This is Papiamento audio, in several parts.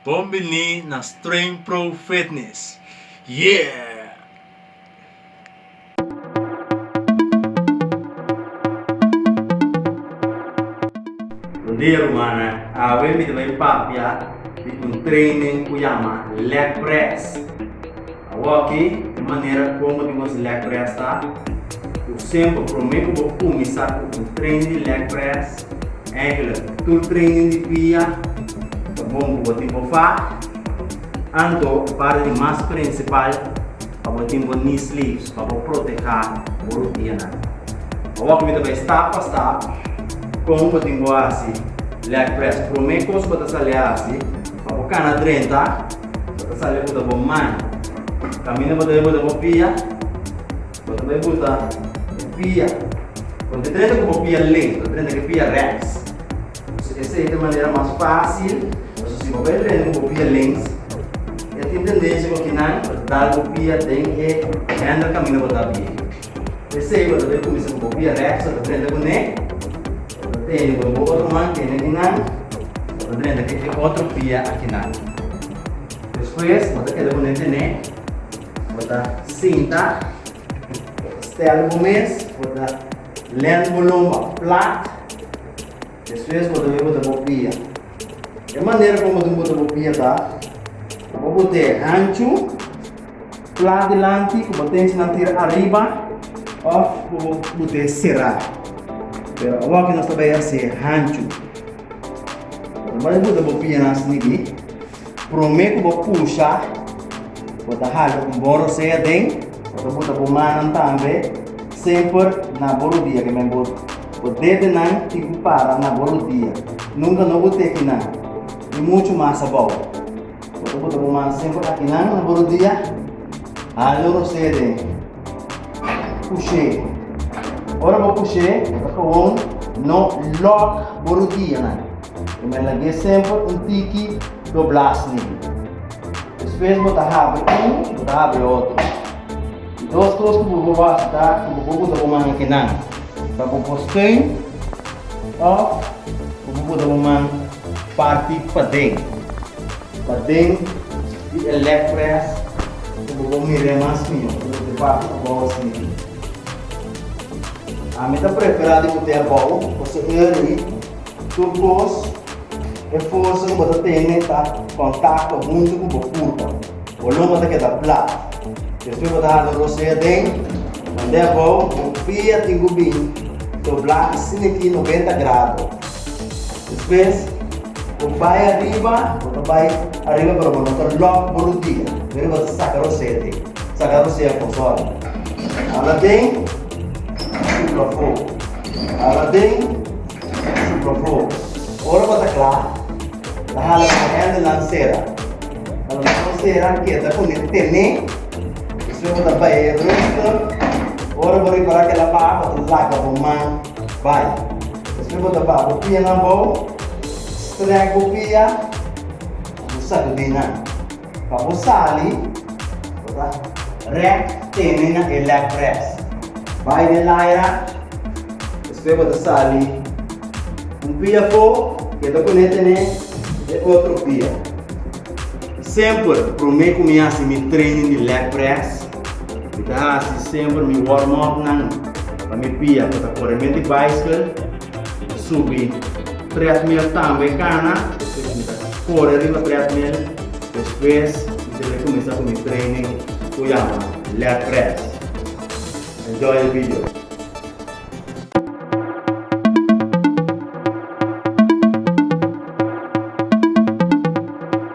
Bon bini na Streng Pro Fitness! Yeah! Bon dia rumannan, awe mi ta bai papia di un training cu yama Leg Press. Awor ki e manera como di nos leg press ta, cu semper prome cu bo cuminsa cu un training di leg press, eigenlijk cu tur training di dia, ta bon cu bo tin bo fa, anto e parti di mas principal pa bo tin bo knee sleeves pa bo proteha bo rodianan. Awor cu mi ta bay stap pa stap con bo tin bo haci leg press, prome cos cu bo ta sali haci, Abo cana drenta, bo ta sali buta bo man. Camina bo ta bai buta bo pia, bo ta bai buta e pia. Bo ta drenta cu bo pia ley, bo ta drenta cu e pia rex. P'esei esey ta e manera mas facil, pasobra si bo bai drenta cu bo pia lens, e tin tendencia cu kinan ta dal bo pia den e handle camina bo ta a pie. P'esei bo ta debe kuminsá ku bo bia rèkso ta drenta ku ne. Bo ta tene bo bo otro man tene di nan, bo ta drenta ku e otro bia aki nan. Despues bo ta keda ku ne tene, bo ta sinta, bo ta stèl bo mes, bo ta lènt bo lomba plat. Despues bo ta bini bo ta bopia. E manera como tin bo ta bopia ta na bo bo te hanchu plat dilanti cu bo ten esnan tira ariba of bo bo bo te cera. Pero awor que nos ta bay haci hanchu. Lo mas bo ta bopia nan asina aquí. Prome ku bo pusha, bo ta hasi un bon rosé aden. Bo ta buta bo mannan tambe semper na bo rodia, ke men bo bo dedenan tin ku para na bo rodia. Nunka no bo teki nan, ni muchu mas abou. Bo ta buta bo man semper akinan na bo rodia. Hasi un rosé aden. Push'é. Ora bo push'é, bo ta kawon no lòk bo rodianan. I men a ge semper un tiki doblas ni. Despues bo ta habri un, bo ta habri otro. E dos kos ku bo por wak ta ku bo por kuda bo man e kenan pa bo por steun òf ku bo kuda bo man parti paden, paden di e leg press ku bo por mir'é mas mihó ku bo tin parti abou a sirbi. Ami ta preferá di bo tin abou pasobra e ri Tur kos, e forsa ku bo ta tene ta kontakto huntu ku bo purpa. Bo lomba ta keda plat. Despues bo ta hala rosé aden. Mand'é abou, bo fia tin ku bin to blaki sin e ki noventa grado. Despues bo bai ariba, bo ta bai ariba pero bo no ta lòk bo rudia. Primero bo ta saka rosé aden. Saka rosé afó sòri. Hala aden, supla fo. Hala aden. Su propó. Ora bo ta kla, ta hala bo hèn di nan sera. Pa lo menos un sera keda ku ne tené. Despues bo ta bai e rester. Ora bo ripará kel apar, bo ta laga bo man bai. Despues bo ta ba bo pianan abou, strèk bo pia i bo sakudí nan. Pa bo sali, bo ta rèk tene na e leg press. Bai den laira, despues bo ta sali un pia afó i e ta pone tene e otro pia. Semper promé ku mi hasi mi training di leg press, mi ta hasi semper mi warm-upnan pa mi pia ku ta kore mente bicycle. Subi treadmill tambe cana e cuminsa corre riba treadmill despues mi tene cuminsa cu mi training cu yama leg press enjoy e video.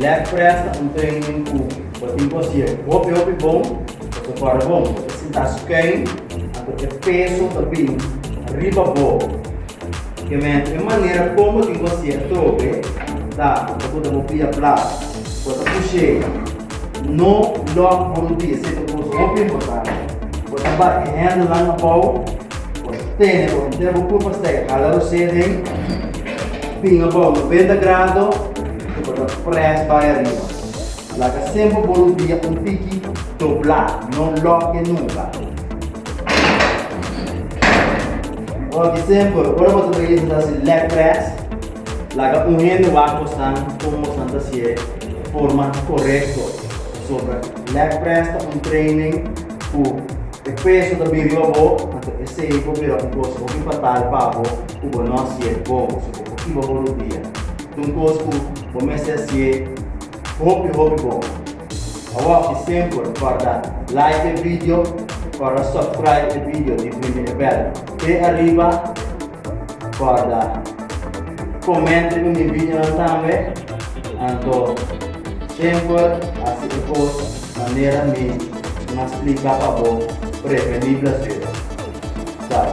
LabPrep ta un training ku bo tin ku hasié hopi hopi bon pa ku kòrda bon. Bo ta sintá skei anto e peso ta bini riba bo. Kementi e manera kon bo tin ku hasié atrobe ta pa ku ta bo pia blas. Bo ta push'é no lòk bo rudí, esei ta un kos hopi importante. Bo ta bat e hèndelnan abou, bo ta tene bo hunté bo kurpa stèk, hala rosé den, pin abou noventa grado. Cu bo ta pres bay ariba. Laga semper bo rudia un piki dobla, no loke nunca. Oki semper, ora bo ta trahi esnan ta haci leg press, laga un hende wak bosnan como bosnan ta haci'e forma corecto. Pasobra leg press ta un training cu e peso ta bin riba bo, anto esey por bira un cosa hopi fatal pa bo cu bo no haci'e bon. Ochi bo por pia ta un kos ku bo mester hasié hopi hopi bon. Awor i semper for da like e video for da subscribe e video di Primi e bel pe ariba for da komenta ku mi videonan tambe anto semper hasi e kos manera mi un a splika pa bo preveni blasuera. Chao.